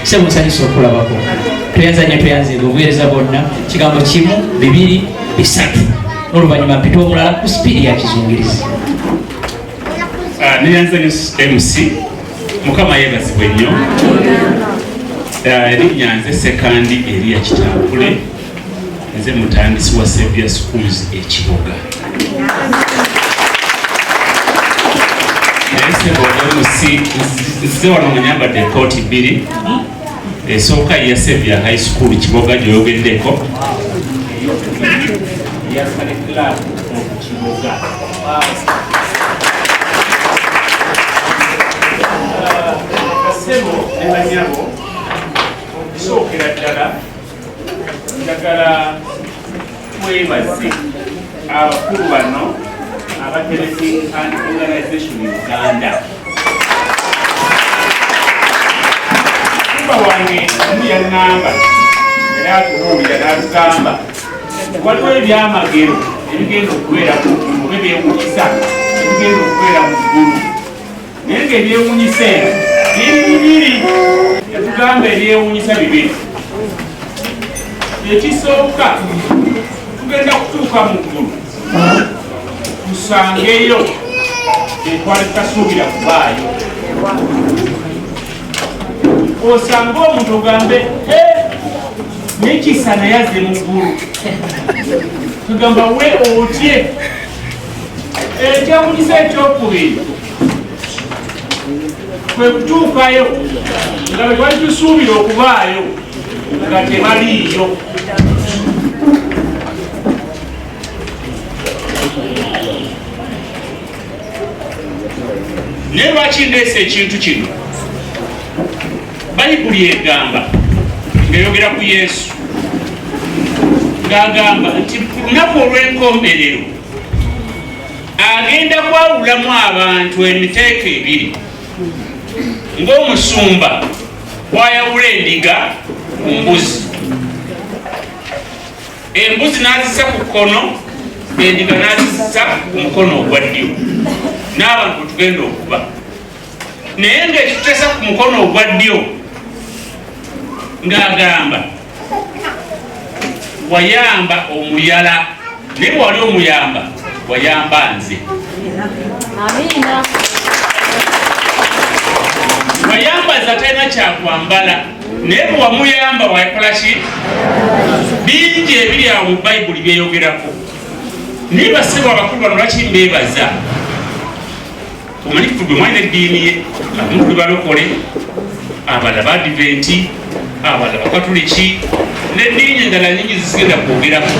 sebo nsanyusa okulabako tweyanza nyo tweyanza ebyo obuweereza bwonna kigambo kimu bibiri bisatu n'oluvannyuma mpita omulala ku sipiidi ya kizungirizi ah, neyanza nyo mc mukama yebazibwe nnyo ah, erinnya nze sekandi eriya kitambule nze mutandisi wa Savior Schools ekiboga nzize wano nga nyambadde ekooti bbiri esooka ya Savior High School kiboga gyoyogeddeko yasale club kiboga kasebo ne banyabo okusookera ddala njagala twebaze abakulu bano abateresi and organization uganda mukama wange omu yaŋŋamba era atubuulira n'atugamba waliwo ebyamagero ebigenda okubeeraku oba ebyewunyisa ebigenda okubeera mu ggulu naye nga ebyewunyisa eno biri bibiri etugamba ebyewunyisa bibiri ekisooka tugenda kutuuka mu ggulu tusangeyo etwali tutasuubira kubaayo osanga omuntu ogambe nekisa naye azze mu ggulu tugamba we otye ekyewunyisa ekyokubiri kwe kutuukayo nga bwe twali tusuubira okubaayo nga tebaliiyo naye lwaki ndeesa ekintu kino bayibuli egamba ng'eyogera ku yesu ng'agamba nti ku lunaku olw'enkomerero agenda kwawulamu abantu emiteeko ebiri ng'omusumba bwayawula endiga ku mbuzi embuzi n'azisa ku kkono endiga n'azisa ku mukono ogwa ddyo n'abantu tugenda okuba naye ng'ekitesa ku mukono ogwa ddyo ng'agamba wayamba omuyala naye wali omuyamba wayamba nze wayambaza talina kyakwambala naye bwewamuyamba wakola ki bingi ebiri awo mu bayibuli byeyogerako naye basebo abakulu bano lwaki mbebaza omanyi kufudu omwana eddiini ye abamu balokole abala badiventi abala bakatuliki n'eddiini endala nyingi zizigenda kwogerako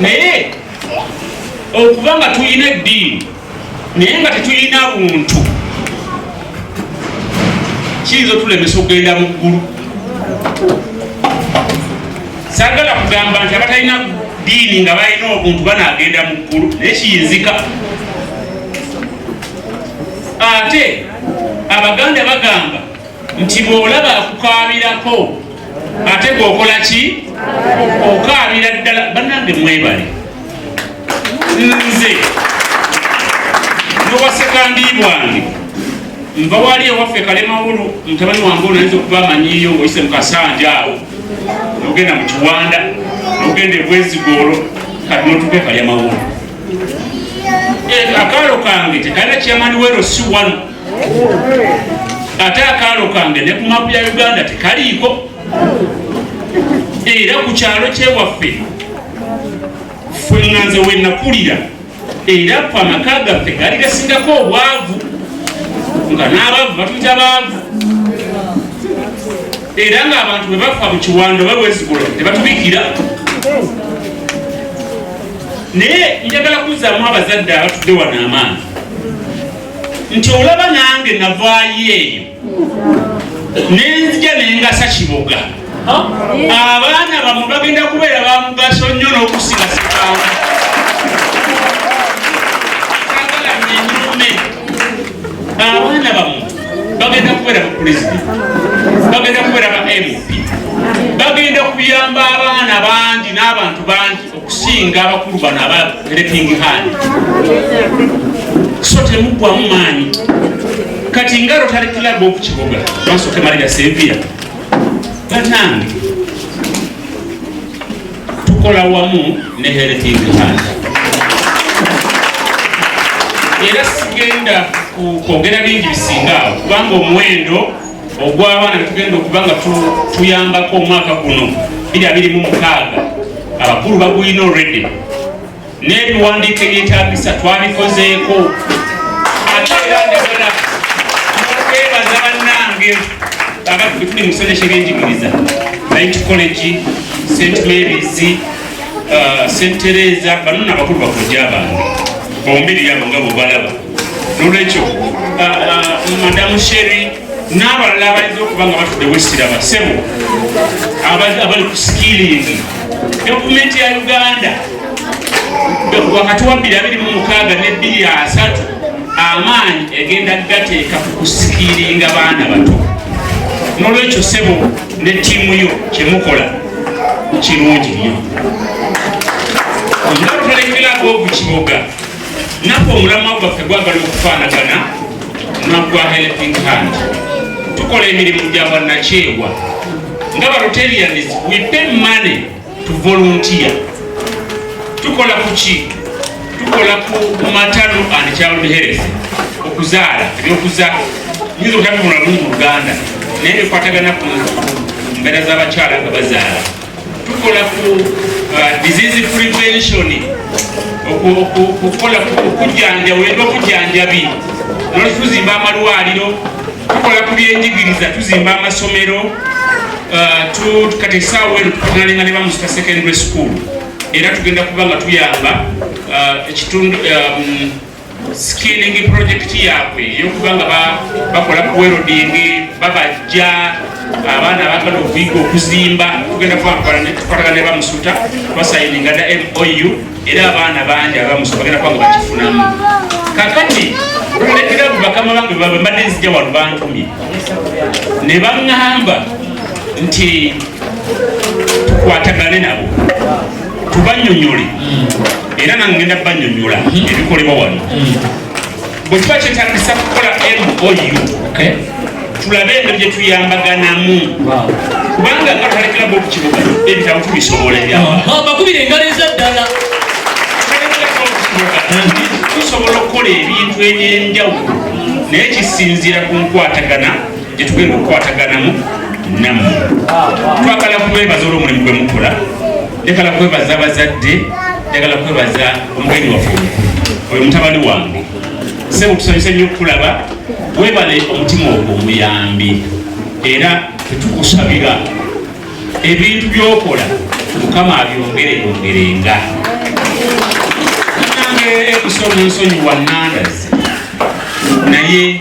naye okuba nga tulina eddiini naye nga tetulina buntu kiyinza otulemesa okugenda mu ggulu sagala kugamba nti abatalina diini nga balina obuntu banagenda mu ggulu naye kiyinzika ate abaganda bagamba nti bwolaba akukaabirako ate gwokola ki okaabira ddala banange mwebale nze nowasekandi bwange nva wali ewaffe kalemawulu mutabani wange onayinza okuba amanyiyo ngaoyise mukasanja awo nogenda mu kiwanda nogenda ebwezigoolo kati notuke kalya mawolo eh, akaalo kange tekalina kyamani wero si wano ate akaalo kange ne ku mapu ya uganda tekaliiko era ku kyalo kyewaffe fwe nganze wenakulira era ku amaka gaffe gaali gasingako obwavu nga n'abaavu batuyita baavu era ng'abantu bwe bafa mu kiwanda oba bwezigula tebatubikira naye njagala kuzzaamu abazadde abatudde wano amaanyi nti olaba nange navaayo eyo nenzija nengasa kiboga abaana bamwe bagenda kubeera bamugaso nnyo n'okusinga sikawa abaana bamwe bagenda kubeera bapulezidenti bagenda kubeera ba mp bagenda kuyamba abaana bangi n'abantu bangi okusinga abakulu bano aba helping hand so temuggwamu maanyi kati nga rotary club okukiboga bansooke malira sevia banange tukola wamu ne helping hand era sigenda kwogera bingi bisingaawo kubanga omuwendo ogw'abaana netugenda okuba nga tuyambako omwaka guno biri abiri mu mukaaga abakulu bagulina olredi n'ebiwandiiko ebyetagisa twabikozeeko ate era njagala okwebaza bannange abaffe tuli mu kisanja kyebenjigiriza light college st marys uh, st teresa banona abakulu bakojja abange bombiri yabo nga bwebalaba nolwekyo uh, uh, madamu sheri n'abalala abayinza okuba nga batudde wesiraba sebo abali ku sikilingi gavumenti ya uganda wakati wa 226 ne 23 amaanyi egenda gateeka ku kusikiringa baana bato nolwekyo sebo ne tiimu yo kyemukola kirungi nyo nga tulekerago obukiboga naffe omulamwa gwaffe gwagala okufaanagana nagwa helping hand tukola emirimu gya bannakyewa nga barotarians we pay money to volunteer tukola kuki tukola ku matano and child health okuzaala ebyokuza nyinza okutatunula lumu mu luganda naye bikwatagana ku mbeera z'abakyala nga bazaala tukola ku uh, disease prevention okukola okujjanjaba era okujjanjabi nolwaki tuzimba amalwaliro tukola ku byenjigiriza tuzimba amasomero uh, kati esaawa eno tukunalinga ne bamusita secondary school era tugenda kuba nga tuyamba uh, ekitundu um, sikiringi pulojekiti yaabwe eyokuba nga bakola kuwerodingi babajja abaana abagala okuyiga okuzimba tugenda kubakola netukolagana ne bamusuta basayininga da mou era abaana bangi abamusuta bagenda kuba nga bakifunamu kakati olulekera bakama bange babe mbadde nzija wano bantumye ne baŋŋamba nti tukwatagane nabo tubanyonyole era nangenda banyonyola ebikolebwa wano bwe tuba kyetagisa kukola mou tulabe eno gye tuyambaganamu kubanga nga tulekera bobu kibuga ebitabo tubisobola ebyabakubira engalo eza ddala tusobola okukola ebintu eby'enjawulo naye kisinziira ku nkwatagana gyetugenda okukwataganamu nammwe twagala kubeebaza olwomulimu gwe mukola njagala kwebaza abazadde njagala kwebaza omugenyi waffe omukulu oyo mutabani wange sebo tusanyuse nnyo okukulaba webale omutima ogwo omuyambi era tetukusabira ebintu byokola mukama abyongere yongerenga nange ekusoma ensonyi wanandazi naye